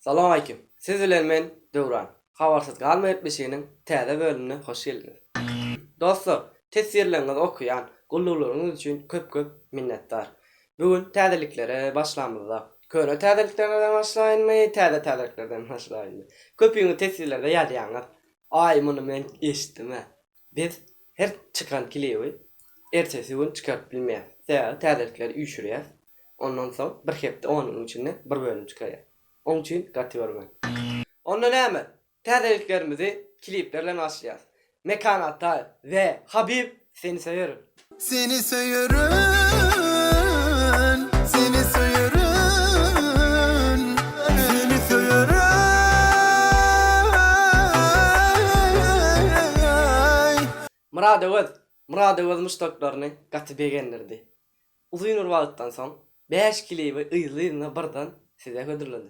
Salowmaleýkim! Siz bilen men Döwran. Habarsyz galma gepleşiginiň täze bölümine hoş geldiňiz. Dostlar, teswirleriňizi okaýan, gulluglaryňyz üçin köp-köp minnetdar. Bu gün täzeliklere başlamyzda, köne täzeliklerden başlaýynmy, täze täzeliklerden başlaýynmy? Köpüňiz teswirlerde ýazýaňyz, Aý, muny men eşitdim-ä. Biz her çykan klibi ertesi gün çykaryp bilmeýäs. Sebäbi täzelikleri üýşürýäs. Ondan soň bir hepde on günüň içinde bir bölüm çykarýas. Oň üçin gaty görme. Onda näme? Täzeliklerimizi klipler bilen başlaýas. Mekan Ataýew we Habib seni söýerin. Seni söýerin, seni söýerin, seni söýerin. Murad Öwez Murad Öwez muşdaklaryny gaty begendirdi. Uzyn bir wagtdan soň bäş klibi yzly-yzyna birden size hödürledi.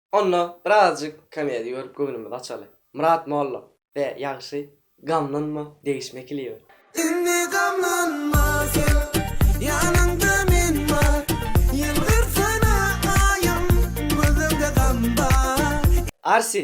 Onda birazjyk komediýa görüp göwnümizi açaly. Myrat molla. Be, ýagşy, gamlanma, degişme klibe. Indi gamlanma sen, ýanyňda men bar, Ýylgyrsana aýym, gözüňde gam bar. Arsi!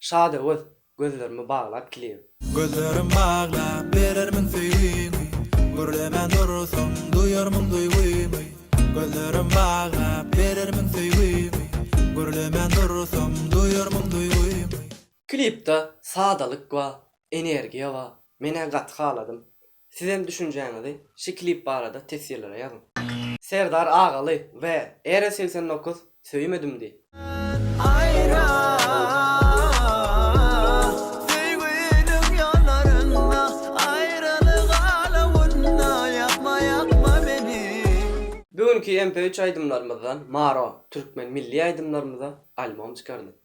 Şadöwez, gözlerimi baglap kiligi. Gözlerim baglap berermiň söýgimi, Gürlemän dursaň duýarmyň duýgymy. Gözlerim baglap berermiň söýgimi, Gürlemän dursaň duýarmyň duýgymy. Klipda sadalyk bar, energiýa bar, men-ä gaty haladym. Sizem düşünjäňizi şi klip barada teswirlere ýazyň. Serdar Agaly we Ere segsen dokuz söýmedim diý. Aýra söýgüniň ýollarynda Aýralyk alawynda Ýakma ýakma meni. Bu günki MP üç aýdymlarymyzdan Maro türkmen milli aýdymlarymyza albom çykardy.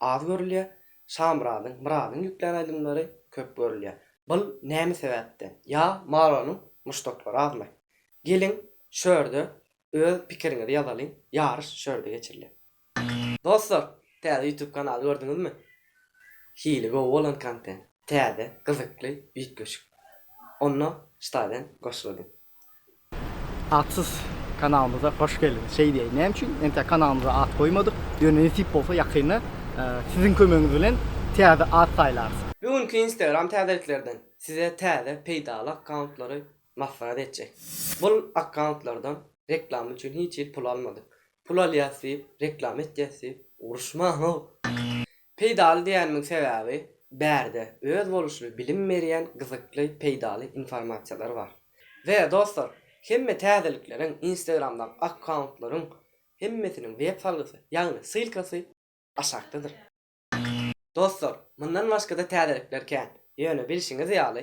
Az görülýär, Şamyradyň, Myradyň ýüklän aýdymlary köp görülýär. Bul näme sebäpden? Ýa Maronyň muşdaklary azmy? Geliň, şu ýerde öz pikiriňizi ýazalyň, ýaryş şu ýerde geçirilýär. Dostlar, täze YouTube kanaly gördüňizmi? Hili gowy bolan kontent, täze, gyzykly, üýtgeşik. Onda ştaýdan goşulalyň. Atsyz kanalymyza hoş geldiňiz. Şeý diýäýin, näme üçin entek kanalymyza at goýmadyk? Ýöne nesip bolsa ýakynda siziň kömegiňiz bilen täze at saýlarys. Bu günki Instagram täzeliklerden size täze peýdaly akkauntlary maslahat etjek. Bul akkauntllardan reklama üçin hiç hili pul almadyk. Pul alýas diýip, reklama etýäs diýip uruşmaň-ow! Peýdaly diýenimiň sebäbi bärde öz boluşly bilim berýän gyzykly peýdaly informasiýalar bar. We dostlar hemme täzelikleriň instagramdaky akkauntlaryň hemmesiniň web salgysy ýagny ssylkasy aşakdadyr. Dostlar mundan başgada täzelikler kän ýöne bilşiňiz ýaly